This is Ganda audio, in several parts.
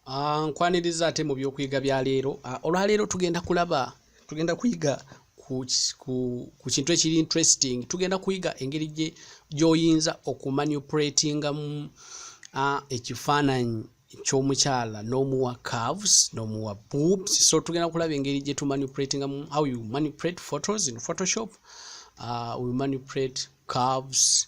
Ah, nkwaniriza ate mu byokuyiga bya leero ah, olwaleero tugenda kulaba tugenda kuyiga ku kintu ekiri interesting tugenda kuyiga engeri gyoyinza okumanupulatingamu ah, ekifaananyi kyomukyala nomuwa caves nomuwa boobs so tugenda kulaba engeri gyetumanupulatingamu how you manupulate photos in photoshop uh, we manupulate caves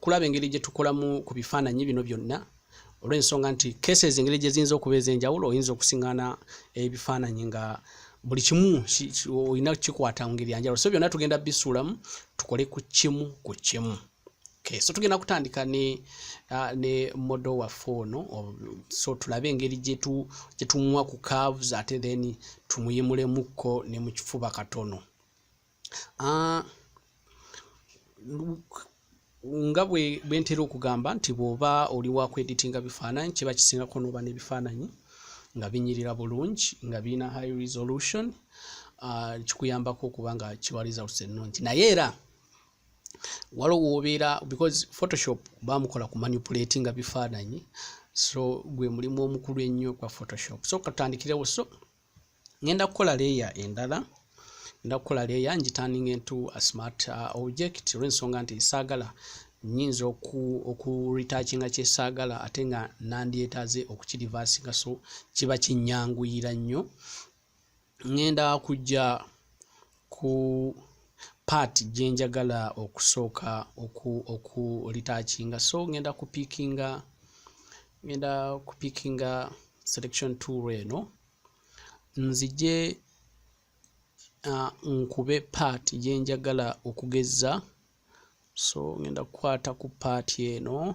kulaba engeri gye tukolamu ku bifaananyi bino byonna olw'ensonga nti cases engeri gye ziyinza okuba ez'enjawulo oyinza okusingana ebifaananyi nga buli kimu olina kikwata ngeri yanjawulo so byonna tugenda bisuulamu tukole ku kimu ku kimu okay. so tugenda kutandika ne, uh, ne modo waffe ono so tulabe engeri gyetumuwa ku caves ate then tumuyimulemu kko ne mu kifuba katono Ah, nga bwentera okugamba nti bwoba oli wakweditinga bifaananyi kiba kisingako noba nebifaananyi nga binyirira bulungi nga birina high resolution ah, kikuyambako okuba nga kiwa results ennungi naye era waliwo wobeera because photoshop bamukola ku manipulate nga bifaananyi so gwe mulimu omukulu ennyo kwa photoshop so katandikirewo so ngenda kukola leeya endala ngenda kukola leeya ngitanninga entu asmart uh, object olw'ensonga nti saagala nyinza okuritakinga kyesaagala ate nga nandyetaaze okukirivasinga so kiba kinyanguyira nnyo ngenda kujja ku part gye njagala okusooka okulitaakinga so ngenda kupiikinga ngenda kupiikinga selection tool eno nzije uh, nkube part gye njagala okugezza so ngenda kukwata ku part eno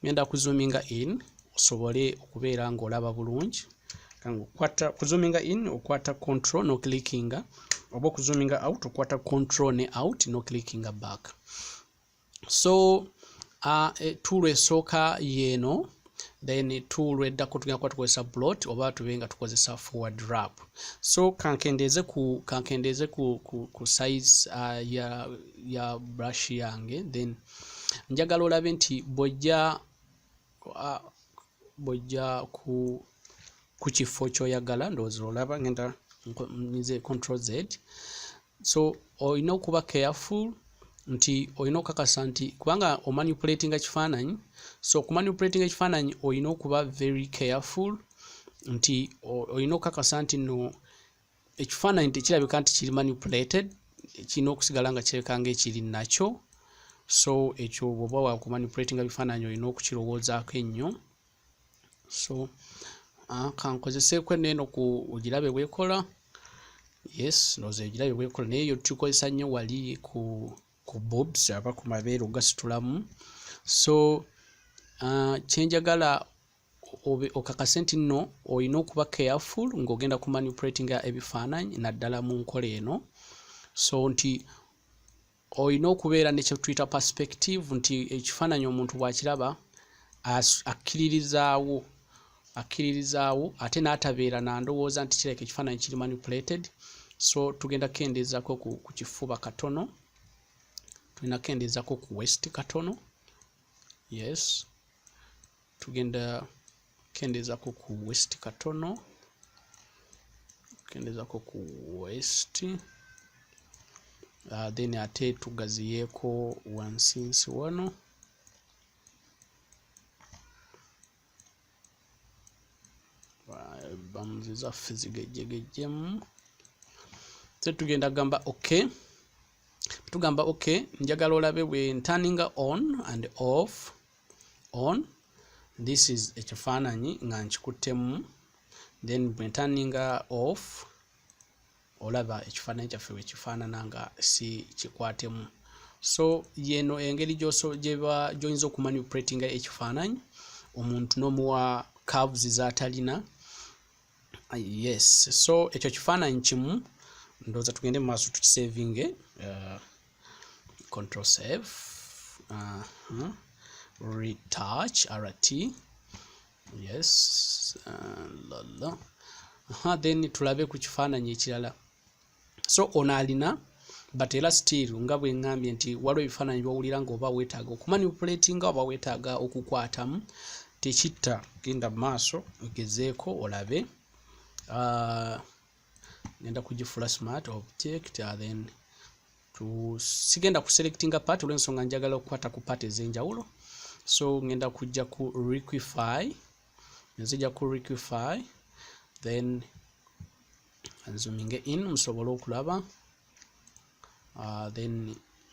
ngenda kuzuminga in osobole okubeera ng'olaba bulungi kangaokwata kuzuminga in okwata control no clickinga oba okuzuminga out okwata control ne out no clickinga back so uh, tuulu esooka yeeno then tuulu eddako tugenda kuba tukozesa blot oba tube nga tukozesa forward rap so kankendeeze ku kankendeeze ku, ku, ku size uh, ya, ya brush yange then njagala olabe nti bwojja bwojja ku ku kifo kyoyagala ndowooza olaba ngenda nze control z so olina okuba careful nti olina okukakasa nti kubanga omanipulatinga kifaananyi so okumanipulatinga ekifaananyi olina okuba very careful nti olina okukakasa nti no ekifaananyi tekirabika nti kiri manipulated kirina okusigala nga kireka nga ekiri nakyo so ekyo bwoba wakumanipulatinga bifaananyi olina okukirowoozaako ennyo so ah, kankozeseeko eno eno ku ogirabe bwekola yes noza ogirabe bwekola naye yo tukozesa nnyo wali ku ku bobs aba ku mabeere ogasitulamu so ah, kyenjagala okakase nti nno olina okuba careful ng'ogenda ku manipulatinga ebifaananyi naddala mu nkola eno so nti olina okubeera ne kyetuyita perspective nti ekifaananyi omuntu bw'akiraba akkiririzaawo akkiririzaawo ate n'atabeera na ndowooza nti kireka ekifaananyi kiri manipulated so tugenda kukendeezako ku kifuba katono tulina kukendeezako ku west katono yes tugenda kendeezako ku west katono kendeezako ku west uh, then ate tugaziyeeko wansinsi wano bamuzi zaffe zigejjegejjemu se tugenda gamba ok tugamba ok njagala olabe bwe ntaninga on and off on this is ekifaananyi nga nkikuttemu then bwe ntanninga off olaba ekifaananyi kyaffe bwe kifaanana nga si kikwatemu so yeno engeri gyoyinza okumanipulatinga ekifaananyi omuntu n'omuwa caves z'atalina Ah, yes so ekyo kifaananyi kimu ndowooza tugende mu maaso tukisavinge uh, control save uh -huh. retouch rt yes uh, lala uh -huh. then tulabe ku kifaananyi ekirala so ono alina but era still nga bwe ngambye nti waliwo ebifaananyi byowulira nga oba weetaaga okumanipuletinga oba weetaaga okukwatamu tekitta genda mu maaso ogezeeko olabe ah, ngenda kugifula smart object ah, then sigenda kuselectinga part olwensonga njagala okukwata ku part ez'enjawulo so ngenda kujja ku requify nzija ku requify then zooming in musobole okulaba uh, then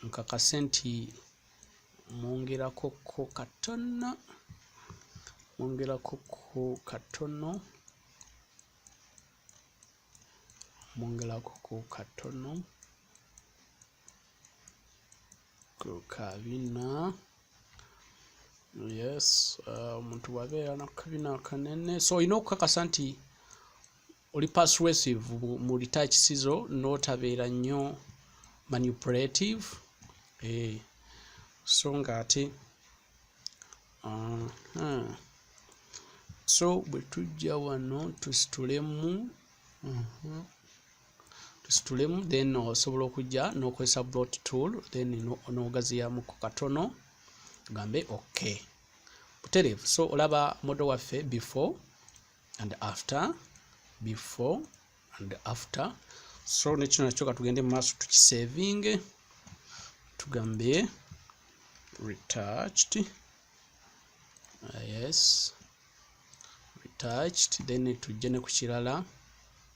nkakase nti mwongerako ko katono mwongerako ko katono mwongerako ko katono kukabina yes uh, omuntu uh, wabeera nakukabina akanene so olina okukakasa nti oli persuasive mu retouch sizo notabeera nnyo manipulative eh, so nga ate so bwe tujja wano tusitulemu uh-huh, tusitulemu then osobola okujja nokozesa blot tool then nogaziyamuko katono tugambe ok butereevu so olaba modo waffe before and after before and after so nekino nakyo katugende mumaaso tukisavinge tugambe retouched uh, yes retouched then tujje ne ku kirala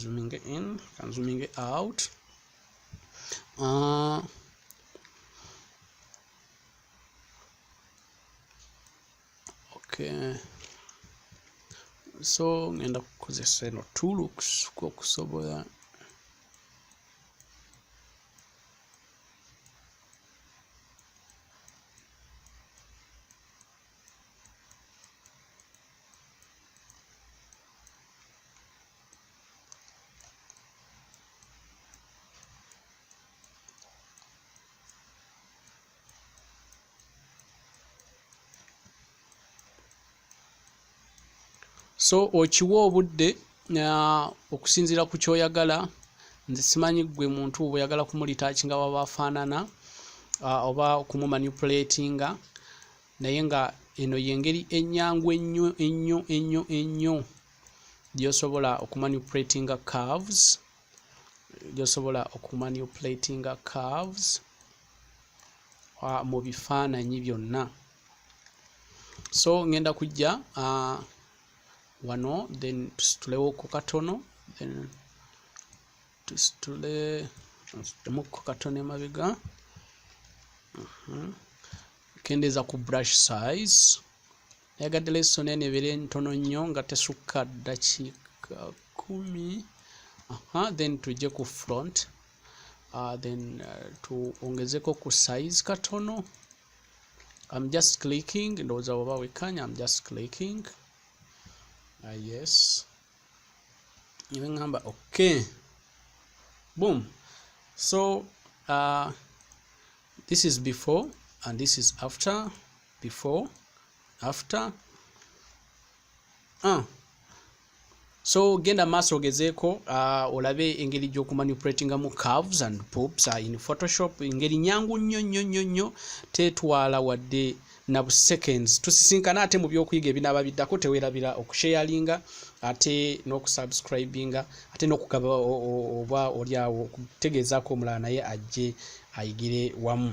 zooming in kan zooming out uh, okay so ngenda kukozesa eno two looks kwokusobola so okiwa obudde okusinziira ku kyoyagala nze simanyi gwe muntu bweyagala kumulitakinga waba afaanana oba kumumanipulatinga naye nga eno yengeri enyangu ennyo ennyo ennyo ennyo gyosobola okumanipulatinga carves gyosobola okumanipulatinga carves mu bifaananyi byonna so ngenda kujja uh, wano then tusitulewo ku katono then tusitule nsitemu ku katono emabega uh mhm. -huh. kendeeza ku brush size nayagadde lesson eno ebeere ntono nnyo nga tesukka ddakiika kumi aha then tujje ku front uh, then uh, tuongezeko ku size katono I'm just clicking ndowooza bwaba wekkanya I'm just clicking uh, yes iwe ngamba okay boom so uh, this is before and this is after before after uh. so genda maaso ogezeeko uh, olabe engeri gy'okumanipulatingamu carves and pops uh, in photoshop engeri nyangu nnyo nnyo nnyo nnyo tetwala wadde na bu seconds tusisinkana ate mu byokuyiga ebinaaba biddako tewerabira okusharinga ate n'okusubscribinga ate n'okugaba oba olyawo okutegeezaako omulala naye ajje ayigire wamu